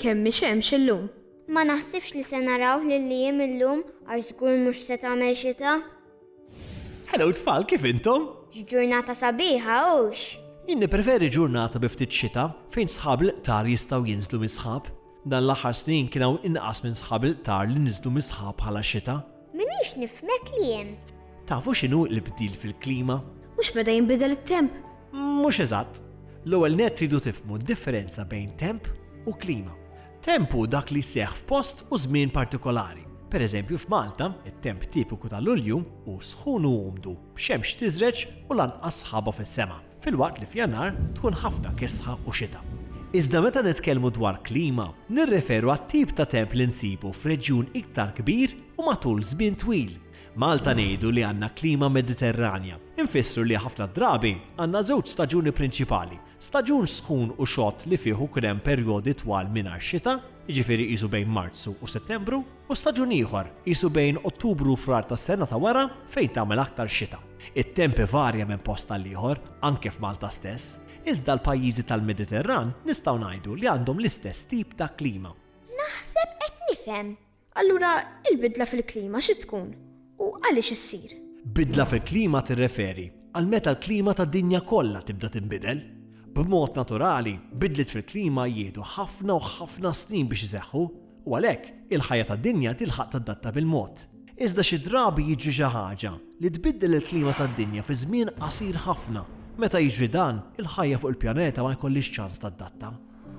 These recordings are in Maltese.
Kemm hi xemx illum? Ma naħsibx li se narawh lil Liam illum għax żgur mhux se tagħmel xita. Hello tfal, kif intom? X'ġurnata sabiħa hux! Jien nippreferi ġurnata bi ftit xita fejn sħab l-iqtar jistgħu jinżlu mis-sħab. Dan l-aħħar snin kien hawn inqas minn sħab l-iqtar li niżlu mis-sħab bħala xita. Minix nifhmek li hemm. Tafu x'inhu l-bdil fil-klima? Mhux meta jinbidel it-temp? Mhux eżatt. L-ewwel nett tridu tifhmu d-differenza bejn temp u klima. Temp hu dak li jseħħ f'post u żmien partikolari. Pereżempju f'Malta, it-temp tipiku ta' Lulju hu sħun u umdu, b'xemx tiżreġ u lanqas sħaba fis-sema. filwaqt li f'Jannar tkun ħafna kisħa u xita. Iżda meta nitkellmu dwar klima, nirreferu għat-tip ta' temp li nsibu f'reġjun iktar kbir u matul żmien twil. Malta ngħidu li għandna klima Mediterranja, infissru li ħafna drabi għandna żewġ staġuni prinċipali, staġun sħun u xott li fih ikun hemm perjodi twal mingħajr xita, jiġifieri qisu bejn Marzu u Settembru, u staġun ieħor, qisu bejn Ottubru u Frar tas-sena ta' wara, fejn tagħmel aktar xita. It-temp ivarja minn post għal ieħor, anke f'Malta stess, iżda l-pajjiżi tal-Mediterran nistgħu ngħidu li għandhom l-istess tip ta' klima. Naħseb qed nifhem. Allura il-bidla fil-klima xi tkun u għaliex issir? Bidla fil-klima tirreferi għal meta l-klima tad-dinja kollha tibda tinbidel. B'mod naturali, bidliet fil-klima jieħdu ħafna u ħafna snin biex iseħħu. u għalhekk il-ħajja tad-dinja tilħaq tadatta bil-mod. Iżda xi drabi jiġri xi ħaġa li tbiddel il-klima tad-dinja fi żmien qasir ħafna. Meta jiġri dan, il-ħajja fuq il-pjaneta ma jkollhiex ċans tadatta.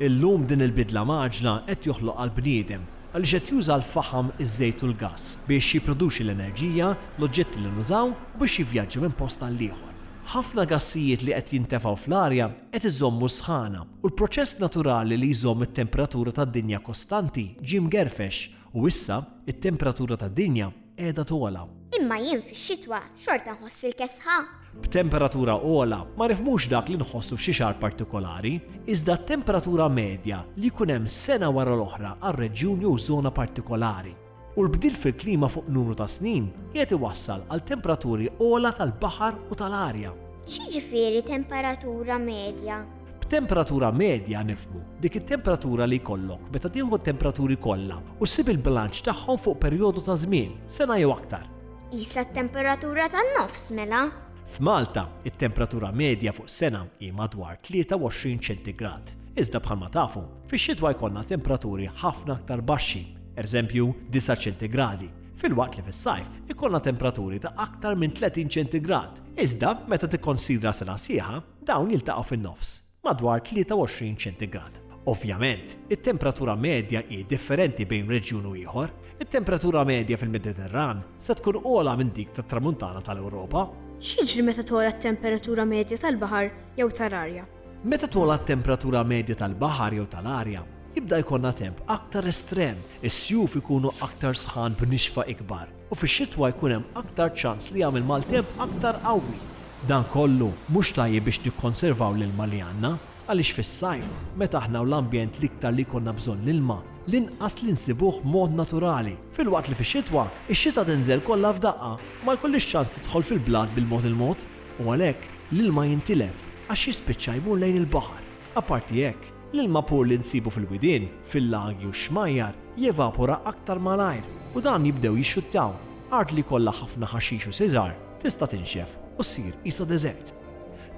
Illum din il-bidla mgħaġġla qed joħloqha l-bniedem għaliex qed juża l-faħam, iż-żejt u l-gass biex jipproduċi l-enerġija, l-oġġetti li nużaw u biex jivvjaġġa minn post għall-ieħor. Ħafna gassijiet li qed jintefgħu fl-arja qed iżommu s-sħana. U l-proċess naturali li jżomm it-temperatura tad-dinja kostanti ġie mgerfex u issa t-temperatura tad-dinja qiegħda togħla. Imma jien fix-xitwa xorta nħoss il-kesħa. B'temperatura ogħla ma nifhmux dak li nħossu f'xi xahar partikolari, iżda t-temperatura medja li jkun hemm sena wara l-oħra għal reġjuni u żona partikolari. u l-bdil fil-klima fuq numru ta' snin qiegħed iwassal għal temperaturi ogħla tal-baħar u tal-arja. X'jiġifieri temperatura medja? B'temperatura medja nifhmu dik it-temperatura li jkollok meta tieħu t-temperaturi kollha u ssib il-bilanċ tagħhom fuq perjodu ta' żmien, sena jew aktar. Qisha t-temperatura tan-nofs mela. F'Malta, it-temperatura medja fuq sena hi madwar 23 ċentigrad. Iżda bħalma tafu, fix-xitwa jkollna temperaturi ħafna aktar baxxi, eżempju, disa' ċentigradi, filwaqt li fis-sajf ikollna tempraturi ta' aktar minn tletin ċentigrad, iżda meta tikkonsidra sena sħiħa, dawn jiltaqgħu fin-nofs, madwar tlieta u għoxrin ċentigrad. Ovvjament, it-temperatura medja hi differenti bejn reġjun u ieħor, it-temperatura medja fil-Mediterran se tkun ogħla minn dik tat-Tramuntana tal-Ewropa. X'jiġri meta togħla t-temperatura medja tal-baħar jew tal-arja? Meta togħla t-temperatura medja tal-baħar jew tal-arja, jibda jkollna temp aktar estrem, is-sjuf ikunu aktar sħan b'nixfa ikbar, u fix-xitwa jkun hemm aktar ċans li jagħmel maltemp aktar qawwi. Dan kollu mhux tajjeb biex nikkonservaw l-ilma li għandna, għaliex fis-sajf, meta aħna u l-ambjent l-iktar li jkollna bżonn l-ilma, l-inqas li nsibuh b'mod naturali. Filwaqt li fix-xitwa, ix-xita tinżel kollha f'daqqa, ma jkollhiex ċans tidħol fil-blat bil-mod il-mod. u għalhekk l-ilma jintilef għax jispiċċa jmur lejn il-baħar. Apparti hekk, l-ilma pur li nsibu fil-widien, fil-lagi u x-xmajjar jevapora aktar malajr u dawn jibdew jixxuttaw. Art li jkollha ħafna ħaxix u siġar tista' tinxef u ssir qisha deżert.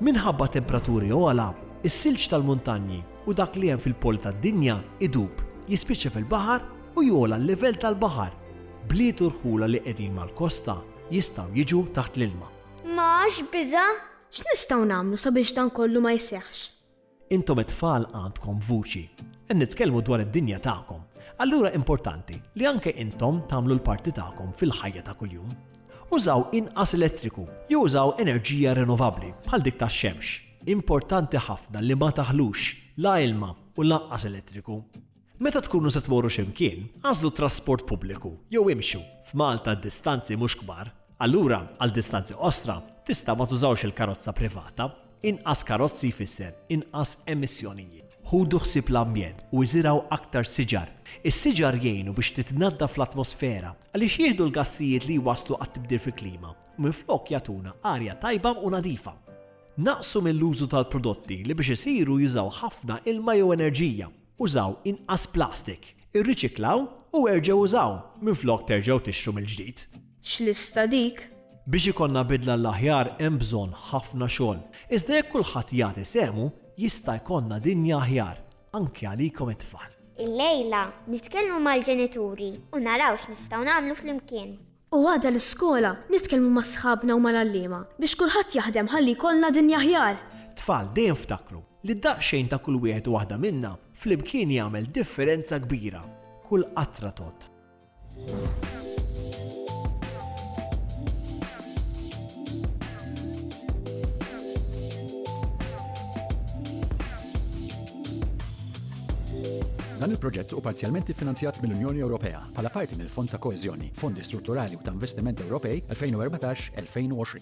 Minħabba tempraturi ogħla, is-silġ tal-muntanji u dak li hemm fil-poli tad-dinja idub, jispiċċa fil-baħar u jogħla l-livell tal-baħar. Bliet u rħula li qegħdin mal-kosta jistgħu jiġu taħt l-ilma. Ma għax biża'? X'nistgħu nagħmlu sabiex dan kollu ma jseħħx? Intom it-tfal għandkom vuċi. Qed nitkellmu dwar id-dinja tagħkom. Allura importanti li anke intom tagħmlu l-parti tagħkom fil-ħajja ta' kuljum. Użaw inqas elettriku jew użaw enerġija rinnovabbli bħal dik tax-xemx. Importanti ħafna li ma taħlux la ilma u lanqas elettriku. Meta tkunu se tmorru xi mkien, agħżlu t-trasport pubbliku jew imxu, f'Malta d-distanzi mhux kbar, allura għal distanzi qosra tistgħu ma tużawx il-karozza privata, inqas karozzi jfisser inqas emissjonijiet. Ħudu ħsieb l-ambjent u iżirgħu aktar siġar. Is-siġar jgħinu biex titnaddaf l-atmosfera għaliex jieħdu l-gassijiet li jwasslu għat-tibdil fil-klima u minflok jagħtuna arja tajba u nadifa. Naqqsu mill-użu tal-prodotti li biex isiru jużaw ħafna ilma jew enerġija. Użaw inqas plastik, irriċiklaw u erġgħu użaw, minflok terġgħu tixtru mill-ġdid. X'lista dik! Biex ikollna bidla għall-aħjar hemm bżonn ħafna xogħol, iżda jekk kulħadd jagħti sehmu, jista' jkollna dinja aħjar, anki għalikom it-tfal. Illejla, nitkellmu mal-ġenituri u naraw x'nistgħu nagħmlu flimkien. U għada l-iskola nitkellmu ma' sħabna u mal-għalliema biex kulħadd jaħdem ħalli jkollna dinja aħjar! Tfal, dejjem ftakru li daqsxejn ta' kull wieħed u waħda minna flimkien jagħmel differenza kbira. Kull qatra tgħodd. Dan il-proġett hu parzjalment iffinanzjat mill-Unjoni Ewropea. bħala parti mill-Fond ta' Koeżjoni, Fondi Strutturali u ta' Investiment Ewropej 2014-2020.